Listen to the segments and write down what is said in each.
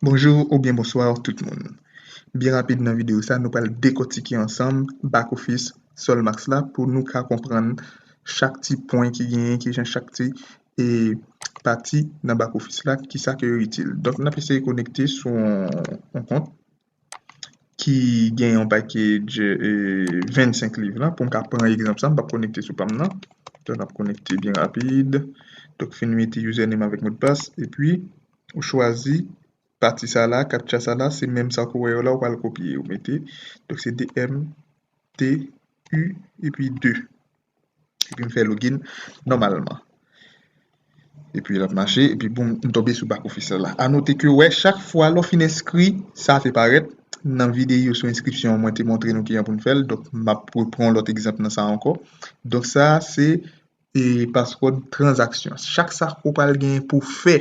Bonjour ou byen bonsoir tout moun Byen rapid nan video sa nou pral dekotike ansanm back office solmax la pou nou ka konprann chak ti pwen ki genyen kijan chak ti e pati nan back office la ki sa ke yo itil. Donk nap eseye konekte sou yon kont ki gen yon pakej 25 liv la poum ka pran egzanp sa m pap konekte sou pam nan. Donk nap konekte byen rapid. Donk fin mete username avèk modpas epi ou chwazi pati sa la captcha sa la se menm sa ke w wè yo la ou pral kopye ou mete donk se 2 m t u epi 2. Epi m fè login nòmalman. Epi l ap mache, epi boum, m tonbe sou bak ofisyèl la. A note ke wè, chak fwa lè w fin enskri, sa te parèt. Nan videyo sou enskripsyon an, mwen te montre nou kijan pou n fè l. Donk, m ap repran yon lòt egzanp nan sa ankò. Donk, sa a se paswòd tranzaksyon. Chak sa ou pral genyen pou w fè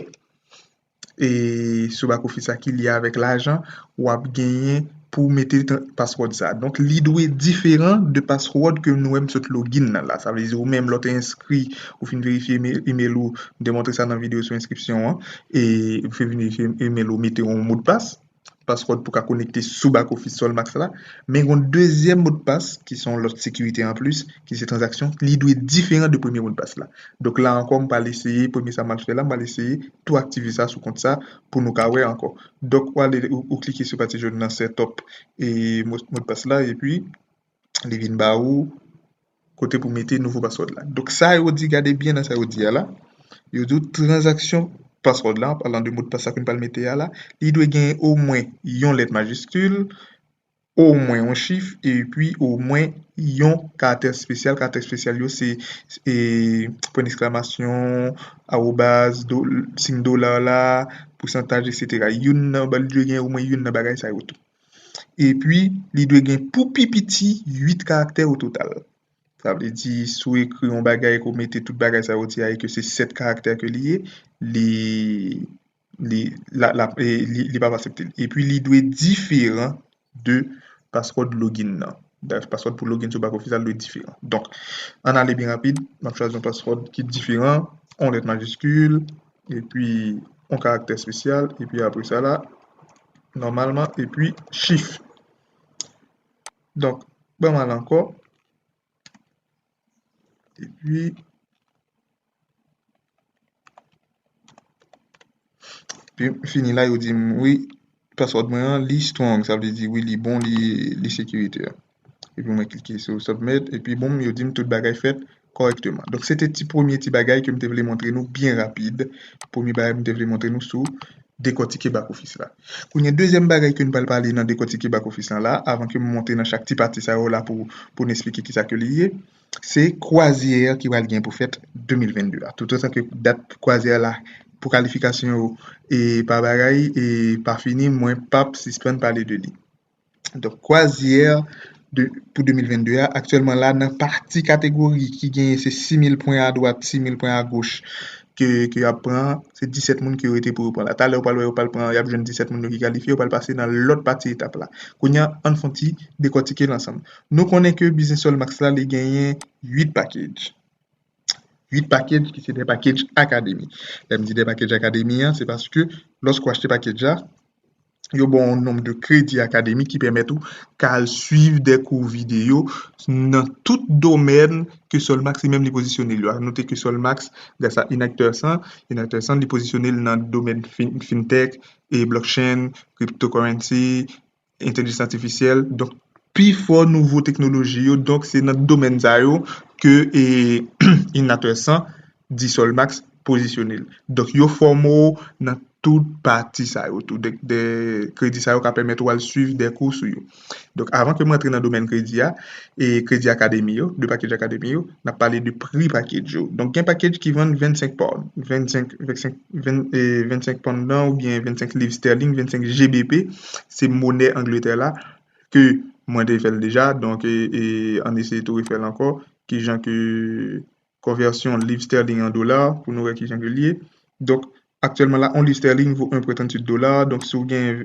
e sou back office sa ki lye avèk lajan wap genyen pou mete password sa donk li dwe diferan de password ke nou wè m sot login nan la sa vle di ou menm lè w te enskri ou fin verifye email ou m te montre sa nan video sou enskripsyon an e ou fin verifye email ou mete yon modpas password pou ka konekte sou back office Solmax la, men gen yon dezyèm modpas ki se yon lòt sekirite anplis ki se tranzaksyon li dwe diferan de premye modpas la. Donk la ankò m pral eseye premye sa m pral fè la m pral eseye tou aktive sa sou kont sa pou nou ka wè ankò. Donk ou ale ou klike sou pati jòn nan setup e modpas la epi. li vin ba ou kote pou mete nouvo password la. Donk sa yo di, gade byen nan sa yo di a la, yo di transaksyon password la, alan de mot pasa ke nou pral mete a la, li dwe gen o mwen yon lèt majiskil, o mwen yon chif, e pi o mwen yon karakte spesyal, karakte spesyal yo se e, pwen deksklamasyon, awobaz, sin dola la, pousantaj, etc. Youn nan, li dwe gen o mwen youn nan bagay sa yo tou. epi li dwe gen pou pi piti 8 karaktè o total. Sa vle di, si w ekri yon bagay ke w mete tout bagay sa yo di a e ke se 7 karaktè ke li ye, li, li, la, lap, e, li pap asepte l. Epi li dwe diferan de password login nan. Brèf, password pou login sou bak ofisyal dwe diferan. Donk, ann ale byen rapid, m ap chwazi yon password ki diferan, yon lèt majiskil, epi yon karaktè espesyal, epi apre sa la, nòmalman, epi chif. Donk, ban m al ankò, epi, epi fini la, yo di m, wi, Password mwen an li strong sa vle di wi li bon li li sekirite epi mwen klike sou submit epi bon yo dim tout bagay fèt kòrèkteman donk se te ti premye ti bagay ke m te vle montre nou byen rapid premye bagay m te vle montre nou sou dekòtike back office la kounye dezyèm bagay ke nou pral pale nan dekòtike back office la la avan ke m monte nan chak ti pati sa yo la pou pou n esplike kisa ke li ye se kwazyè ki pral gen pou fèt 2022 a. Tout otan ke dat kwazyè la pou kalifikasyon yo e pa bagay e pa fini, mwen pap sispann pale de li. Donk, kwazyè pou 2022 a, aktyèlman la nan pati kategori ki genyen se 6,000 pwen a dwat, 6,000 pwen a goch ke yo ap pran, se 17 moun ki rete pou yo pran la. Talè ou pral wè yo pral pran, y ap jwenn 17 moun yo ki kalifye, yo pral pase nan lòt pati etap la. Kounye a, ann fon ti dekòtike l ansanm. Nou konnen ke Business All Max la li genyen 8 package. 8 package ki se de package akademi. Lè m di de package akademi an, se paske lòske ou achte package la, yo ba w yon nonm de kredi akademi ki pèmèt ou ka al suiv de kou videyo nan tout domèn ke Sol Max li menm li pozisyone l yo. A note ke Sol Max, gras a Inacteurs1, Inacteurs1 li pozisyone l nan domèn Fintech, Blockchain, Cryptocurrency, entèlijans atifisyèl, donk pi fò nouvo teknoloji yo, donk se nan domèn sa yo ke Inatwesan di Solmax pozisyone l. Donk yo fòme w nan tout pati sa yo tou, donk de kredi sa yo ka pèmèt ou al swiv de kou sou yo. Donk avan ke m rantre nan domèn kredi a, e kredi akademi yo, de pakedj akademi yo, n ap pale de pri pakedj yo. Donk gen pakedj ki vann 25 pound, 25, 25 25 pandan ou byen 25 liv sterling, 25 GBP, se monè Angletè la, ke mwen te fèl deja, donk e an eseye tou refèl ankò, kijan ke konvèsyon liv sterling an dola, pou nou wè kijan ke li ye, donk aktyèlman la, on liv sterling vo 1.38 dola, donk si ou gen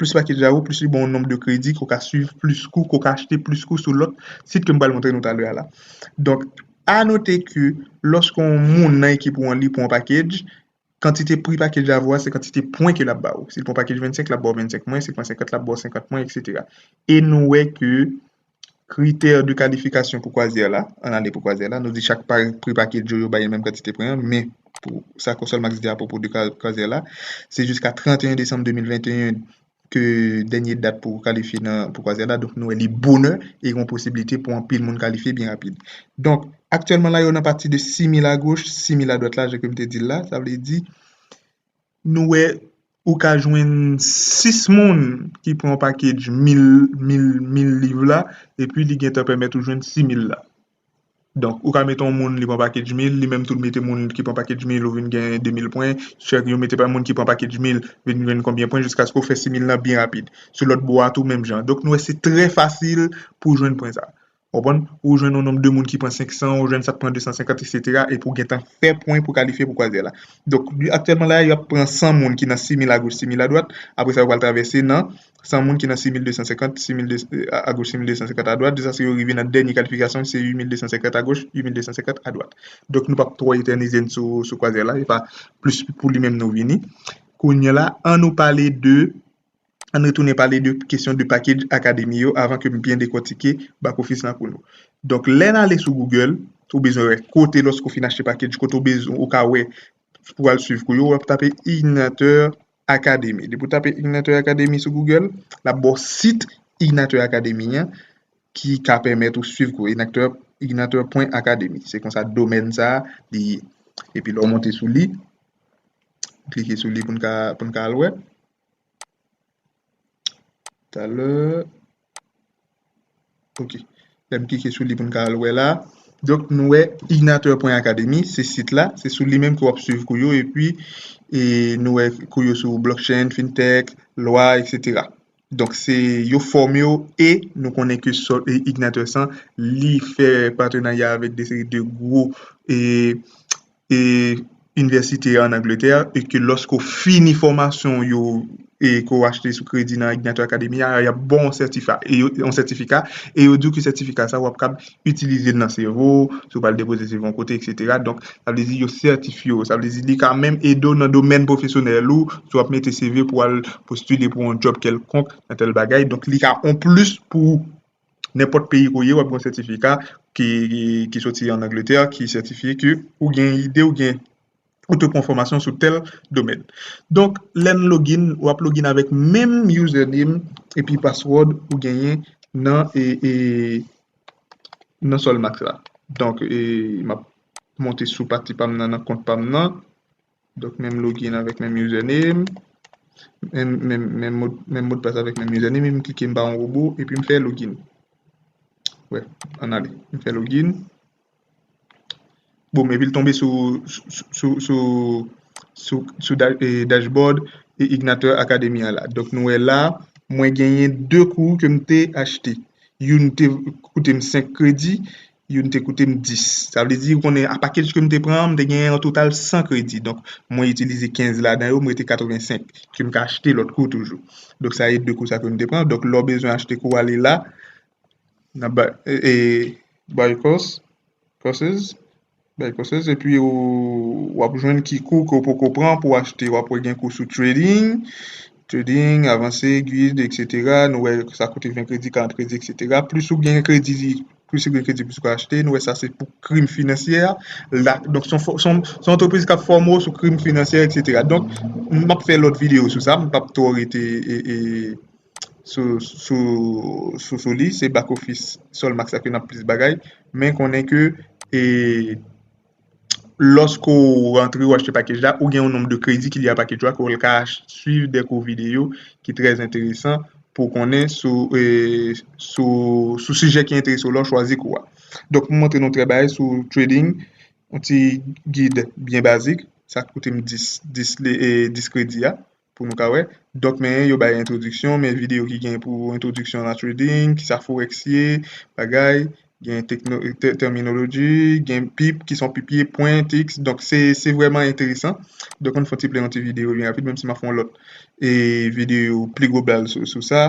Plis pake dja wo, plis li ba w nonb de kredi ke w ka swiv plis kou, ke w ka achte plis kou sou lòt sit ke m pral montre nou talè a la. Donk, a note ke lòske yon moun nan ekip ou an li pran yon pakedj, kantite pri pakedj la vo a se kantite pwen ke l ap ba ou. Si l pran pakedj 25, l ap ba w 25 pwen, si l pran 50, l ap ba w 50 pwen, eksetera. E nou wè ke Kritè de kalifikasyon pou kwazyè la, an ale pou kwazyè la, nou di chak pri pakèt yo, yo bay yon menm kantite pwen an, men, pou sa konsèl Max di apwopo de kwazyè la, se jiska 31 desanm 2021 ke dènye dat pou kalifye nan pou kwazyè la, donk nou wè li bonè e gen yon posiblite pou anpil moun kalifye byen rapid. Donk, aktyèlman la yo nan pati de 6000 agoch, 6000 adwat la, jan ke m te di l la, sa vle di, Nou wè ou ka jwenn 6 moun ki pran pakedj 1000 liv la epi li gentan pèmèt ou jwenn 6000 la. Donk ou ka mete yon moun li pran pakedj 1000, li menm tou li mete moun ki pran pakedj 1000 ou vin gen 2000 pwen, chak yo mete pa moun ki pran pakedj 1000 vin jwenn konbyen pwen jiskaske ou fè 6000 lan byen rapid. Sou lòt bò a tou menm jan. Donk nou wè se trè fasil pou jwenn pwen sa. Ou konprann? Ou jwenn yon nonb de moun ki pran 500, ou jwenn sa k pran 250 eksetera epi ou gentan fè pwen pou kalifye pou kwazyè la. Donk, aktyèlman la a, y ap pran 100 moun ki nan 6000 agoch 6000 adwat, apre sa yo pral travèse nan 100 moun ki nan 6250, 6200 agoch 6250 adwat, jiskaske yo rive nan dènye kalifikasyon ki se 8250 agoch 8250 adwat. Donk nou p ap twò etènize n sou kwazyè la, se pa plis pou li menm nou vini. Kounye a la, annou pale de. ann retounen pale de kesyon de package akademi yo avan ke m byen dekòtike back office lan pou nou. Donk, lè n ale sou Google, ou bezwen wè kote lòske ou fin achte package, kote ou bezwen, ou ka wè pou al swiv kou yo, w ap tape Ignateur Academy. Depi ou tape Ignateur Academy sou Google, l ap ba w sit Ignateur Academy an ki ka pèmèt ou swiv kou yo, Ignateur, Ignateur pwen Academy. Se konsa domèn sa a li ye. Epi lè w monte sou li, klike sou li pou n ka, pou n ka al wè. Talè. Ok. Lèm klike sou li pou n ka al wè la. Donk nou wè Ignateur pwen Akademi, se sit la. Se sou li menm ke w ap swiv kou yo e pi e nou wè kou yo sou blockchain, fintech, lwa, eksetera. Donk se yo fòme w e nou konnen ke sòt e Ignateur san li fè patenarya avèk de seri de gwo e inivèsite an Angletè e ke lòske ou fini fòmasyon ou yo e ke ou achte sou kredi nan Ignato Academy a, y ap ba w yon sètifa, yon sètifika e yo di w ke sètifika sa a w ap kab itilize l nan sevo w, si w pral depoze sevo w yon kote eksetera. Donk, sa vle di yo sètifye w. Sa vle di li ka menm ede w nan domèn pwofesyonèl ou, si w ap mete seve pou al postile pou yon djòb kèlkonk nan tèl bagay. Donk, li ka yon plis pou ou. Nenpòt peyi ke w ye, w ap gen yon sètifika ki soti an Angletè ki sètifye ke ou gen ide, ou gen, ou te pran fòmasyon sou tèl domèn. Donk, lè n login, w ap login avèk menm username epi password ou genyen nan Solmax la. Donk, m ap monte sou pati pa m nan, nan kont pa m nan. Donk menm login avèk menm username, menm modpas avèk menm username, m klike m ba yon robo epi m fè login. Wè, an ale, m fè login. Boum, epi l tonbe sou dashboard Ignateur Academy an la. Donk nou wè la, mwen genyen 2 kou ke m te achte. Youn te koute m 5 kredi. Youn te koute m 10. Sa vle di, ou konnen, a pakej ke m te pran an, m te gen an total 100 kredi. Donk, mwen itilize 15 ladan yo, m rete 85, ke m ka achte lòt kou toujou. Donk, sa e 2 kou sa ke m te pran. Donk, lè w bezwen achte kou, w ale la, nan Buy Course, Courses. Bèl konsèy epi ou wap jwenn ki kou ke ou poko pran pou achte wap wè gen kou sou trading, trading, avanse, guide etc nou wè sa koute 20 kredi 40 kredi etc plis ou gen kredi plis ou gen kredi plis ou ka achte nou wè sa se pou krim finansyè donk son antrepriz kap fòme ou sou krim finansyè etc donk map fè lòt videyo sou sa m pap twò rete. sou li se back office sol max ak yo nap plis bagay men konnen ke loske ou rantre ou achte pakej la ou gen yon nom de kredi ki li a pakej la ke ou ka swiv de kou video ki trez enteresan pou konnen sou sijè ki enterese ou la ou chwazi kou a donk m montre nou trè bagay sou trading yon ti gid byen bazik sa koute m 10 kredi a pou nou ka wè. Dòk men yo bay entwodiksyon, men videyo ki gen pou entwodiksyon la trading, kisa forex ye, bagay, gen terminology, gen pip, kisa yon pip ye, pwen, tiks, donk se vrèman enteresan. Donk ann fon ti plen yon ti videyo byen rapid menm si m ap fè yon lòt videyo pli global sou sa.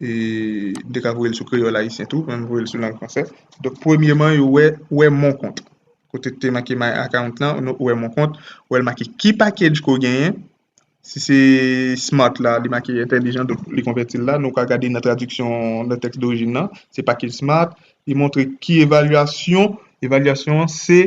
m te ka voye l sou kreyòl ayisyen tou, men m voye l sou lang fransè. Donk, premyeman, yo wè ou wè mon kont. Kote ki te make my account lan, nou wè mon kont, ou wè l make ki package ke w genyen. Si se smart la, li make entèlijan, donk li konvèti l la. Nou ka gade nan tradiksyon, nan tèks dorijin lan, se package smart. Li montre ki evalyasyon, evalyasyon an se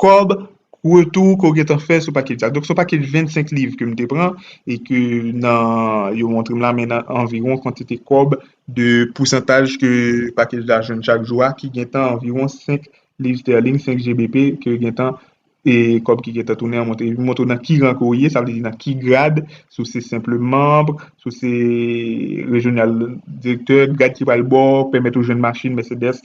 Kòb retou ke w gentan fè sou pakej sa. Donk se yon pakej 25 liv ke m te pran e ke nan yo montre m la men nan anviwon kantite kòb de pousantaj ke pakej la jwenn chak jou a ki gentan anviwon 5 liv sterling, 5 GBP ke gentan e kòb ki gentan tounen an montre. Li montre w nan ki ran ke w ye, sa vle di nan ki grad, si w se senpl manb, si w se rejyonal direktè, grad ki pral ba w pèmèt ou jwenn machin Mercedes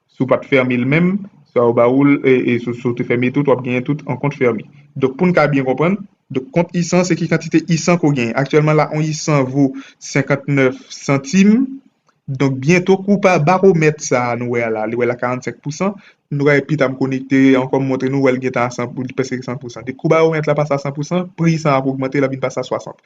Si w pa t fèmen l menm, sa yo ba ou l, e si w te fèmen tout, w ap genyen tout an kont fèmen. Donk pou n ka byen konprann, donk kont I 100 se ki kantite I 100 ke w genyen. Aktyèlman la, yon I 100 vo 59 santim. Donk byento kou pa baromèt sa a nou wè a la, li wè l a 45 pousan, nou ka pi ta m konekte ankò m montre nou wè l gentan a 100 pou li prèske 100 pousan. Depi kou baromèt la pase a 100 pousan, pri I 100 ap ogmante, l ap vin pase a 60.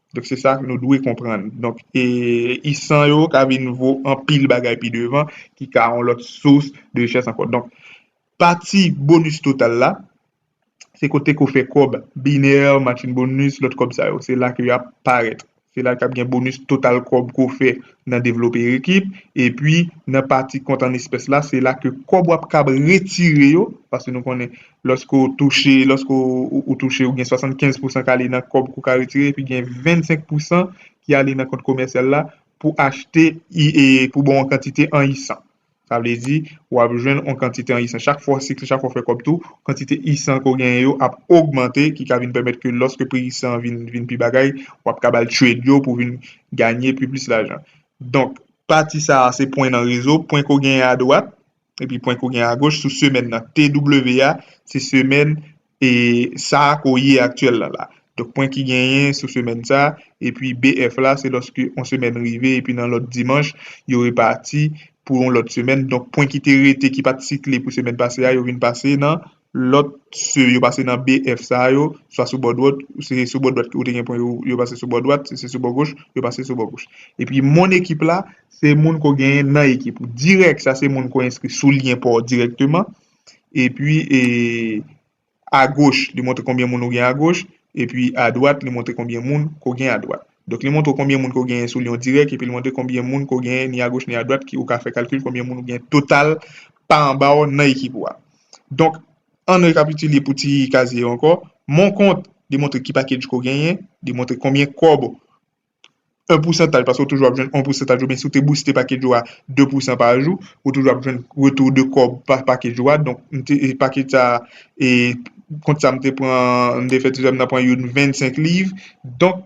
Donk se sa nou dwe konprann. Donk e isan yo ka vin vo anpil bagay pi devan ki ka yon lòt sous de richès ankò. Donk pati bonus total la se kote ke w fè kòb biner, matching bonus, lòt kòb sa yo. Se la ke y ap parèt. Se la k ap gen bonus total kòb ke w fè nan devlope ekip. E pi nan pati kont an espès la se la ke kòb w ap kab retire yo paske nou konnen Lòske ou touche, lòske ou touche, ou gen 75 pousan k ale nan kòb ke w ka retire epi gen 25 pousan ki ale nan kont komèsyal la pou achte pou ba w yon kantite an isan. Sa vle di, w ap jwenn yon kantite an isan. Chak fwa w sikle, chak fwa w fè kòb tou, kantite isan ke w genyen yo ap ogmante ki ka vin pèmèt ke lòske pri isan an vin pi bagay, w ap ka ba l trade yo pou vin ganye pi plis lajan. Donk, pati sa a se pwen nan rezo, pwen ke w genyen adwat, Epi pwen kou gen agoch sou semèn nan. TW a, se semèn e sa ke w ye aktyèl la la. Donk pwen ki genyen sou semèn sa, epi BF la se lòske yon semèn rive epi nan lòt dimanch yo repati pou yon lòt semèn. Donk pwen ki te rete ki pa t sikle pou semèn pase a yo vin pase nan Lòt se yo pase nan BF sa yo, swa sou bò dwòt, si se sou bò dwat ou te gen pwen yo, yo pase sou bò dwat, si se sou bò goch, yo pase sou bò goch. Epi moun ekip la, se moun ke w genyen nan ekip ou. Dirèk, sa se moun ke w enskri sou lyen pa w dirèkteman. Epi e agoch, li montre konbyen moun ou gen agoch. Epi adwat, li montre konbyen moun ke w gen adwat. Donk li montre w konbyen moun ke w genyen sou lyen w dirèk, epi li montre konbyen moun ke w genyen ni agoch ni adwat ki ou ka fè kalkil konbyen moun ou gen total pa anba w nan ekip ou a. Donk, an n rekapitile pou ti kazye yo ankò, Mon kont demontre ki pakej ke w genyen, demontre konbyen kòb, 1 pousantaj, paske ou toujou ap jwenn 1 pousantaj oubyen si w te bouste pakej ou a 2 pousan pa jou, ou toujou ap jwenn retou de kòb pa pakej ou a. Donk, m te, pakej sa a, e kont sa a m te pran, m te fè ti zòn m nan pran youn 25 liv. Donk,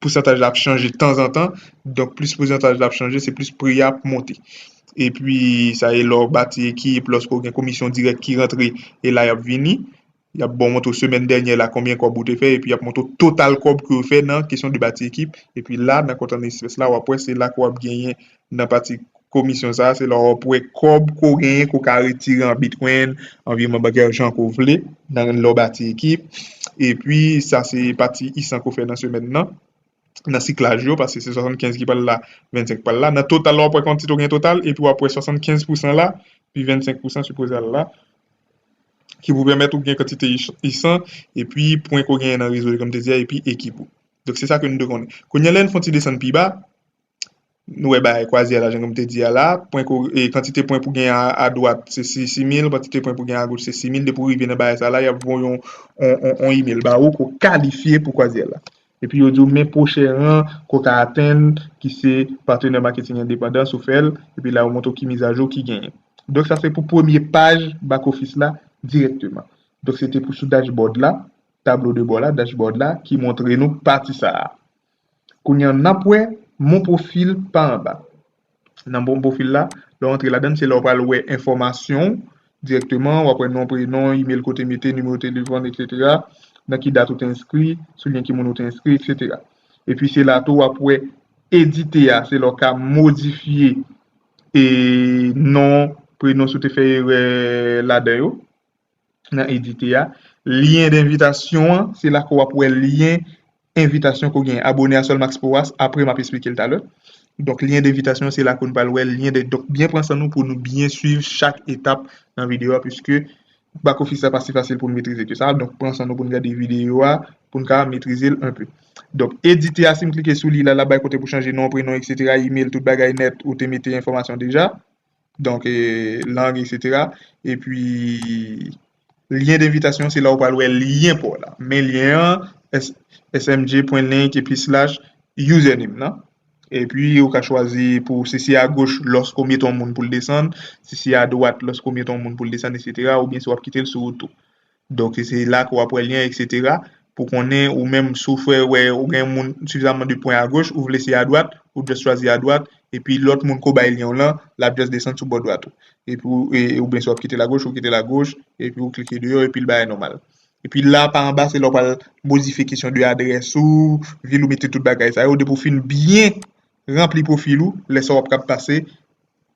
pousantaj la ap chanje tanzantan, donk plis pousantaj la ap chanje se plis pri a ap monte. Epi sa e lè w bati ekip, lòske w gen komisyon dirèk ki rantre, e la y ap vini, y ap ba w montre w semèn dènyè la konbyen kòb ou te fè, epi y ap montre w total kòb ke w fè nan kesyon de bati ekip, epi la nan kont an espès la w ap wè se la ke w ap genyen nan pati komisyon sa a, se lè w ap wè kòb ke w genyen ke w ka retire an bitcoin, an virman bankè, jan ke w vle, nan lè w bati ekip. E pi, sa se pati Isanco fè nan semèn nan, nan siklaj yo, paske se 75 ki pral la, 25 ki pral la. Nan total la, w ap wè kantite w gen total, e pi w ap wè 75 pousan la, pi 25 pousan sipoze al la, ki pou pèmèt ou gen kantite isan, e pi pwen ke w genyen nan rezo yo, kòm m te di a, e pi ekip ou. Donk se sa ke nou dwe konnen. Kounye a, lè n fè yon ti desann pi ba, Nou wè bagay kwaze a la, jan ke m te di a la. Pwen ke w, e, kantite pwen pou gen a dwat se si, si mil, kantite pwen pou gen a goch se si mil. Depi w rive nan bagay sa a la, y ap voye yon, yon, yon, yon email ba ou ke w kalifye pou kwazyè la. Epi yo di w men pwochen ran ke w ka atenn ki se patenè maketing endepandan si w fè l. Epi la yo montre w ki mizajou ki genyen. Donk sa se pou premye paj back office la dirèkteman. Donk se te pou sou dashboard la, tablo de bò la, dashboard la, ki montre nou pati sa a. Kounye an nap wè mon profil pa anba. Nan mon profil la, lè w antre ladann se la w pral wè enfòmasyon w dirèkteman, wap wè non, prenon, email kote mete, nimewo telefòn etc. Nan ki dat ou te enskri, sou lyen ki moun ou te enskri etc. Epi se la tou wap wè edite a, se la w ka modifye e non, prenon si w te fè erè ladan yo. nan edite a. Lyen denvitasyon an, se la ke w ap wè lyen envitasyon ke w genyen. Abone a Solmax Powas, apre m ap esplike l talè. Donk, lyen denvitasyon an, se la ke nou pral wè lyen de, donk byen pran san nou pou nou byen swiv chak etap nan videyo a, piske bak ofis la pa si fasil pou nou metrize ke sa. Donk, pran san nou pou nou gade videyo a, pou nou ka metrize l enpe. Donk, edite a, si m klike sou li la, l ap bay kote pou chanje non, prenon, eksetera, imel, tout bagay nèt, ou te mete enfòmasyon deja. donk lang eksetera epi lyen denvitasyon se la ou pral wè lyen pa w la men lyen an smg.linkedin.com/slash username nan epi ou ka chwazi pou si se agoch lòske ou mete yon moun pou l desann si se adwat lòske ou mete yon moun pou l desann eksetera oubyen si w ap kite l sou ou tou Donk se la ke w ap wè lyen eksetera pou konnen ou menm si w fè wè ou gen moun sifizaman de pwen agoch ou vle se adwat ou just chwazi adwat epi lòt moun ke w bay lyen w lan l ap just desann sou bò dwat ou epi ou oubyen si w ap kite l agoch ou kite l agoch epi ou klike deyò epi l bagay nòmal. Epi la pa anba se la w pral modifye kesyon de adrès ou vil ou mete tout bagay sa yo depi w fin byen ranpli pwofil ou lè sa w ap kab pase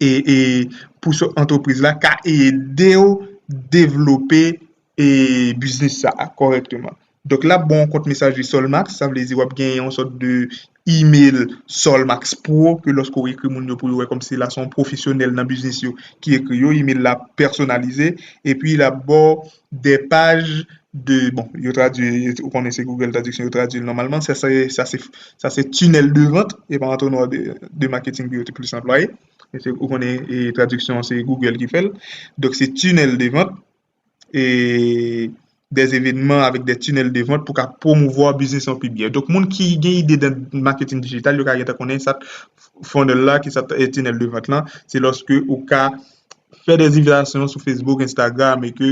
e pou sou antrepriz la ka ede ou devlope e biznis sa a kòrèkteman. Donk lap ba w yon kont mesaje Solmax, sa vle di wap gen yon sòt de email Solmax pro ke lòske ou ekri moun yo pou yo wè kòmsi la se yon pwofesyonèl nan biznis yo ki ekri yo, email la pèsonalize epi lap ba w 2 paj de bon yo tradui ou konnen se Google tradiksyon yo tradui l nòmalman sa se sa se sa se tunnel de vente e pa antonwa de marketing pou yo te plis anplwaye se ou konnen e tradiksyon an se Google ki fè l donk se tunnel de vente e des evenements avek des tunnels de vente pou ka promouvoir biznis an pi byen donk moun ki gen ide nan marketing digital yo ka gentan konnen sa funnel la ki sa tunnel de vente lan se lòske ou ka fè des invitasyon sou Facebook, Instagram e ke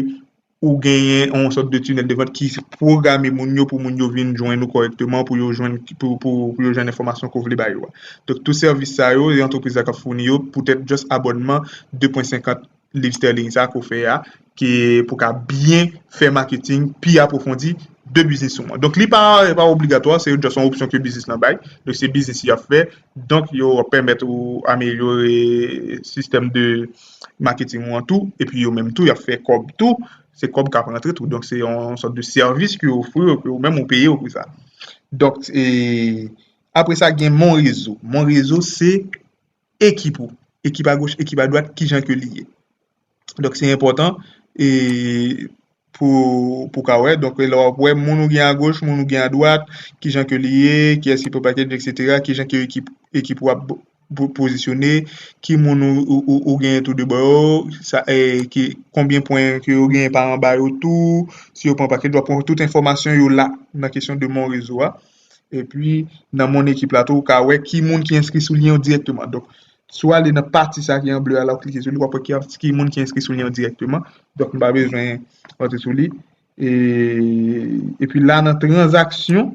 ou genyen yon sòt de tunèl de vant ki pwograme moun yo pou moun yo vin jwenn ou kòrèkteman pou yo jwenn enfòmasyon ke ou vle ba yo a. Donk tout sèvis sa yo e antrepriz la k ap founi yo poutèt just abònman 2.50 liv sterling sa ke ou fè a, ki pou ka byen fè maketing pi apwofondi de biznis ou an. Donk li pa obligatwa, se just yon opsyon ke biznis lan bay. Donk se biznis y ap fè, donk yo ap pèmèt ou amelyore sistèm de maketing ou an tou, epi yo menm tou y ap fè kòb tou, se kòb k ap rantre tou. Donk se yon sòt de sèvis ke yo ofri yo, ke ou menm ou peye yo pou sa. Donk, apre sa gen Monrezo. Monrezo se ekip ou, ekip a goch, ekip a dwat, ki jan ke li ye. Donk se enpòtan e pou ka wè, donk lè w ap wè moun ou gen a goch, moun ou gen a dwat, ki jan ke li ye, ki yès ki pran pakèt, eksetera, ki jan ke ekip ou ap pozisyone, ki moun ou gen tou de bò yo, konbyen pwen ke yo gen pa anba yo tou, si yo pran pakèt, w ap pran tout enfòmasyon yo la nan kesyon de monrezo a. E pi nan mon ekip la tou ou ka wè ki moun ki enskri sou lyen yo dirèkteman. Donk, si w ale nan pati sa ki an ble a la ou klike sou li w ap wè ki moun ki enskri sou lyen yo dirèkteman. Donk, m pa bezwen antre sou li. E pi la nan tranzaksyon,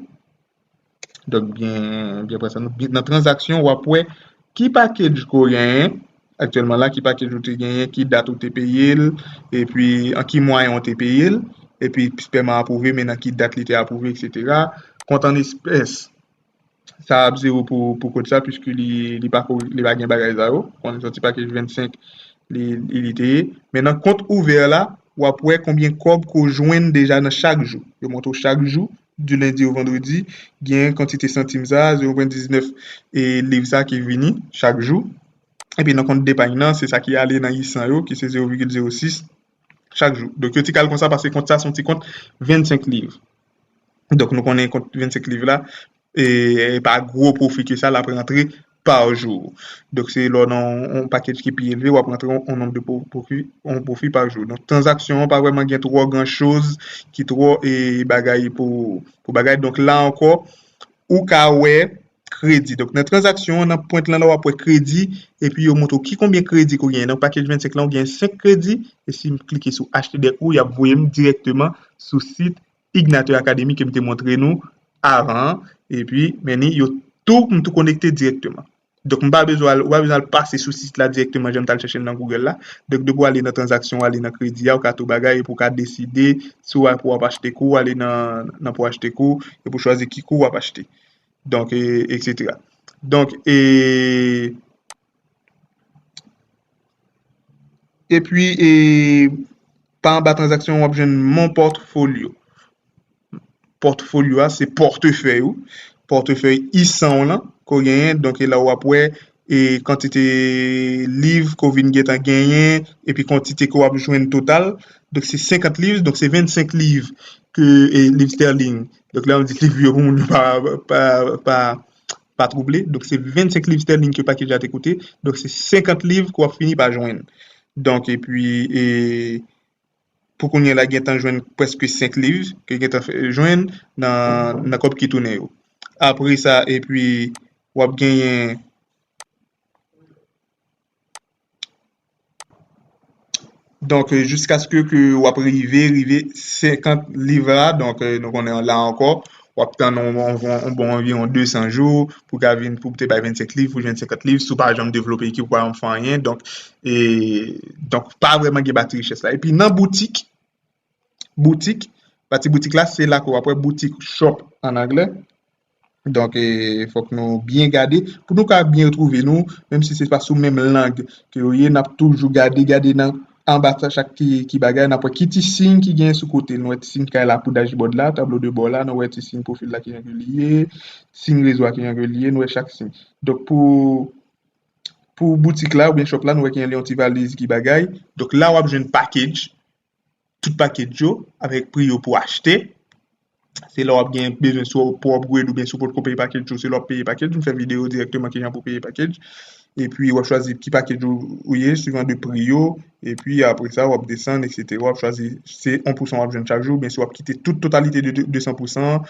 donk byen presa nou, nan tranzaksyon w ap wè ki package ke w genyen. aktyèlman la, ki pakej ou te genyen, ki dat ou te peye l, epi an ki mwayen ou te peye l, epi pèman apwouve men nan ki dat li te apwouve eksetera, kont an espès sa ap zewo pou kod sa puiske li pa gen bagay sa yo, kont an ti pakej 25 li te ye, men nan kont ouvè la wap wè konbyen kòb ke w jwenn deja nan chak jou, yo montre w chak jou du lundi au vendredi, genyen kantite santim sa, 0.19 e liv sa ki vini chak jou. Epi nan kont depagn nan, se sa ki ale nan isan yo ki se 0,06 chak jou. Donk yo ti kal konsa paske kont sa son ti kont 25 liv. Donk nou konnen kont 25 liv la, e pa gwo pwofi ke sa lap rantre par jou. Donk se lè w nan yon pakej ki pi elve w ap rantre yon nonb de pwofi, yon pwofi par jou. Donk tranzaksyon an pa vrèman gen twò gran choz ki twò e bagay pou bagay. Donk la ankò ou ka wè kredi. Donk nan tranzaksyon an nan pwent lan la w ap wè kredi epi yo montre w ki konbyen kredi ke w genyen. Nan pakej 25 lan ou genyen 5 kredi e si m klike sou HTDEC ou y ap voye m dirèkteman sou sit Igniter Academy ke m te montre nou avan an, epi men ni yo tou, m tou konekte dirèkteman. Donk m pa bezwen al, ou pa bezwen al pase sou sit la dirèkteman jan m t al chèche l nan Google la. Donk depi w ale nan tranzaksyon, w ale nan kredi a, ou ka tou bagay epi ou ka deside si w al pou w ap achte kou, ou ale nan nan pou w achte kou, epi ou chwazi ki kou w ap achte. Donk e, eksetera. Donk e. E pwi, e pa anba tranzaksyon wap jwenn mon portfolio. Portfolio a se portefèy ou, portefèy isan w lan ko genyen. Donk e la wap wè e kantite liv ko vin gentan genyen e pi kantite ke wap jwenn total. Donk se 50 liv, donk se 25 liv ke e liv sterling. Donk la wap di liv yo pou moun pa pa pa. pa twouble, donk se 25 liv sterling ke pakej la te koute, donk se 50 liv ke w ap fini pa jwenn. Donk epi e pou kounye la gen tan jwenn prèske 5 liv ke gen tan fè jwenn nan kòb ki tounen yo. Apre sa epi w ap genyen. Donk, jiskaske ke w ap rive, rive 50 liv la, donk, nou konnen la ankò, w ap tann yon bon anviwon 200 jou, pou ka vin, pou te bay 25 liv, pou jwenn 50 liv, si w pa janm devlope ekip, ou pa janm fè anyen, donk, e, donk, pa vreman gen bati richès la. Epi nan boutik, boutik, pati boutik la se la ke w ap wè boutik, shop an anglè, donk fòk nou byen gade pou nou ka byen retwouve nou, menm si se pa sou menm lang ke yo ye, n ap toujou gade, gade nan anba chak ti bagay, n ap wè ki ti siy ki gen sou kote, nou wè ti siy kay la pou dashboard la, tablo de bò la, nou wè ti siy pwofil la ki jan ke li ye, ti siy rezo a ki jan ke li ye, nou wè chak siy. Donk pou pou boutik la oubyen shop la nou wè ki jan li yon ti valiz ki bagay, donk la w ap jwenn package, tout pakej yo avèk pri yo pou achte, se lè wap gen bezwen sou pou upgrade oubyen si w potko peye pakej yo se lè wap peye pakej, m fè videyo dirèkteman kijan pou peye pakej, epi wap chwazi ki pakej ou ye suivan de pri yo, epi apre sa wap desann eksetera wap chwazi se 1 pousan wap jwenn chak jou oubyen si wap kite tout totalite de 200 pousan an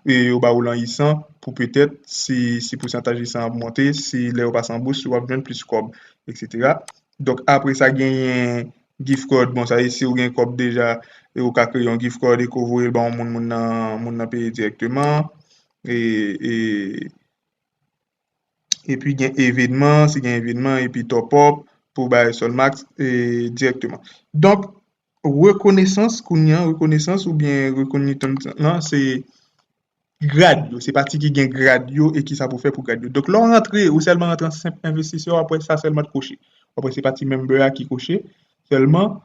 yo ba ou lan isan pou petèt si pousantaj isan an ap monte si lè yo pase an bous wap jwenn plis kòb eksetera donk apre sa genyen gift card bon sa se siw gen kòb deja e ou ka kreye yon gift card e ke w voyel ba yon moun moun nan moun nan peye dirèkteman e e epi gen evenman si gen evenman epi top up pou bay solmax e dirèkteman donk rekonesans kounye an rekonesans oubyen rekonitans lan se grad yo, se pati ki gen grad yo e ki sa pou fè pou grad yo. Donk lè w rantre, ou sèlman rantre an senp envestisè, wap wè sa sèlman t koche. Wap wè se pati member a ki koche, sèlman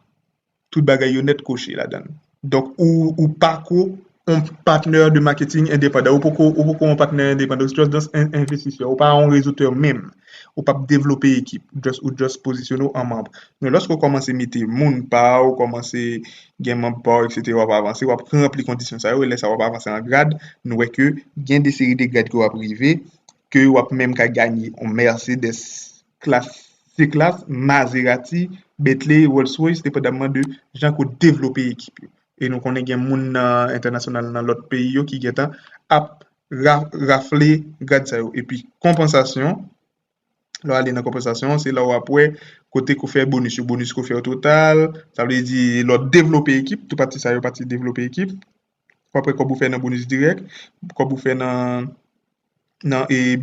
tout bagay yo nèt koche ladan. Donk ou pa ko yon patnè de maketing endepandan, ou poko yon patnè endepandan, ou just yon envestisè, ou pa yon rezoutè menm. Ou pap devlope ekip, ou just pozisyone w an manb. Men lòske w kòmanse mete moun pa w, kòmanse gen manb pa w eksetera w ap avanse w ap ranpli kondisyon sa yo e lè sa w ap avanse an grad nou wè ke gen de seri de grad ke w ap rive ke w ap menm ka ganye yon Mercedes klas C-klas, Maserati, Bentley, Rolls Royce depandaman de jan ke w devlope ekip yo e nou konnen gen moun nan entènasyonal nan lòt peyi yo ki gentan ap rafle grad sa yo epi konpansasyon Lè w ale nan konpansasyon an, se la w ap wè kote ke w fè bonis yo. Bonis ke w fè yo total, sa vle di lè w devlope ekip, tout pati sa yo pati devlope ekip. Ou ap wè kòb ou fè nan bonis dirèk, kòb ou fè nan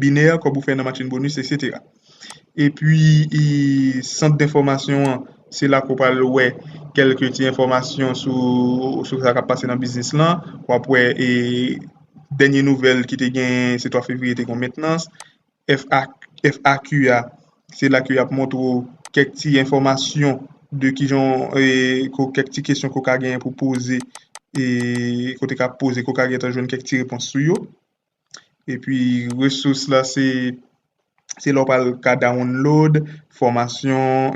binè, kòb ou fè nan machin bonis, eksetera. Epi, sant denfòmasyon an, se la ke w pral wè kèlke ti enfòmasyon sou sa k ap pase nan biznis lan. Ou ap wè dènye nouvèl ki te genyen se 3 fevriye te gen yon mentnans. FAQ a, se la ke y ap montre w kèk ti enfòmasyon de ki jan, kèk ti kesyon ke w ka genyen pou w poze, ke w te ka poze, ke w ka gentan jwenn kèk ti repons sou yo. E pi resous la se, se la w pral ka download fòmasyon.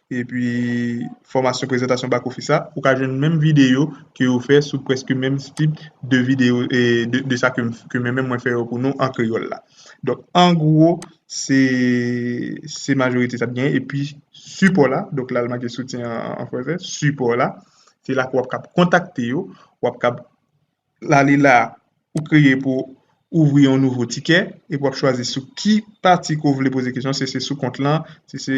epi fòmasyon prezantasyon bak ofis la, ou ka jwenn menm videyo ke yo fè sou prèske menm tip de videyo de sa ke mwen menm mwen fè yo pou nou an kreyòl la. Donk an gwo se se majorite sa gen epi sipò la, donk la l make soutyen an franse, sipò la, se la ke w ap kab kontakte yo, w ap kab. la li la ou kreye pou ouvri yon nouvo tikè epi wap chwazi sou ki pati ke w vle poze kesyon si se sou kont lan si se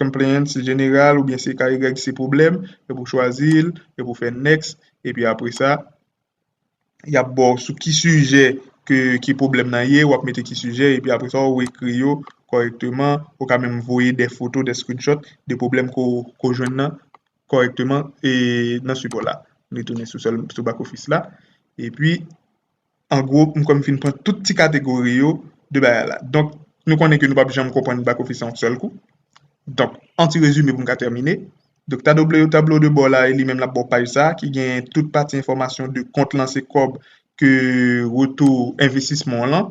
complain se general oubyen se ka regle se pwoblèm epi w chwazi l epi w fè next epi apre sa yap ba w sou ki sijè ke ki pwoblèm nan ye wap mete ki sijè epi apre sa ou ekri yo kòrèkteman ou ka menm voye de foto de screenshot de pwoblèm ke w jwenn nan. kòrèkteman nan sipò la. M retounen sou back office la. E pi, an gwo, m kwè m fin pran tout ti kategori yo de bagay la. Donk, nou konnen ke nou pap janm konprann back office an yon sèl kou. Donk, an ti rezime pou m ka tèmine. Donk, tablo, tablo de bò la e li menm lap ba w paj sa ki gen tout pati enfòmasyon de kont lan se kòb ke retou envestisman w lan.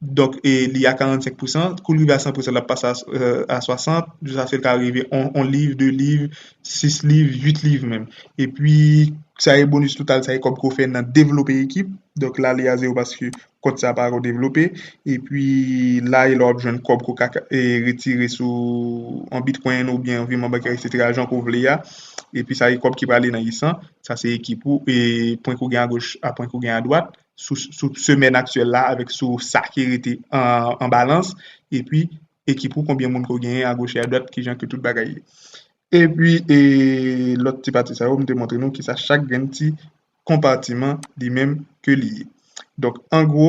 Donk li a 45 pousan, kou l rive a 100 pousan l ap pase a 60, jiskaske l ka rive on liv, de liv, sis liv, uit liv menm. Epi sa e bonis total, sa e kòb ke w fè nan devlope ekip, donk la li a zewo paske kont sa pa ko devlope. Epi la e la w ap jwenn kòb ke w ka retire sou on bitkwenn oubyen on viman bankè eksetera jan ke w vle a. Epi sa e kòb ki prale nan isan, sa se ekip ou e pwen ke w gen agoch a pwen ke w gen adwat. sou semèn aktyèl la avèk sou sa ki rete an balans epi ekip ou konbyen moun ke w genyen agoch e adwat ki jan ke tout bagay ye. Epi e lòt ti pati sa yo m te montre nou kisa chak grenn ti konpatiman li menm ke li ye. Donk an gwo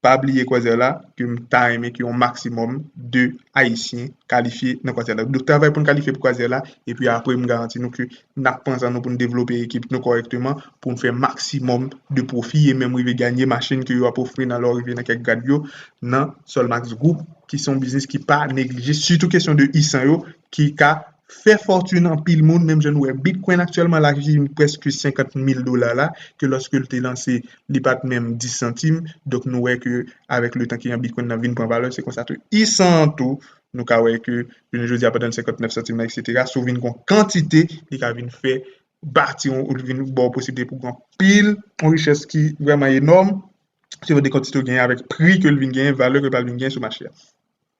pa bliye kwazè la ke m ta renmen ke yon maksimòm de ayisyen kalifye nan kwazè la. Donk travay pou n kalifye pou kwazè la epi apre m garanti nou ke n ap pran san nou pou n devlope ekip nou kòrèkteman, pou n fè maksimòm de pwofi e menm rive ganye machin ke yo ap ofri nan lè w rive nan kèk grad yo nan Solmax Group ki se yon biznis ki pa neglije sitou kesyon de isan yo ki ka fè fòtin anpil moun menm jan nou wè Bitcoin aktyèlman la ki vin prèske 50 mil dola la ke lòske l te lanse li pa t menm 10 santim donk nou wè ke avèk le tan ki an Bitcoin nan vin pran valè se konsa tou isan an tou nou ka wè ke jounen jodi a pandan l 59 santi m nan eksetera si w vin gen yon kantite li ka vin fè bati yon ou li vin ba w posiblite pou gen yon pil yon richès ki vrèman enòm se yon de kantite w genyen avèk pri ke l vin genyen valè ke l pral vin genyen sou mache a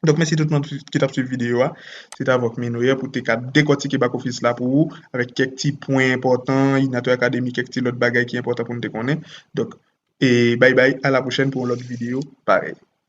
donk mèsi tout moun ki t ap swiv videyo a se te avèk Minoyer pou te ka dekòtike bak ofis la pou ou avèk kèk ti pwen enpòtan Inatwe Academy kèk ti lòt bagay ki enpòtan pou nou te konnen donk e bay bay a la pwochèn pou yon lòt videyo parèy.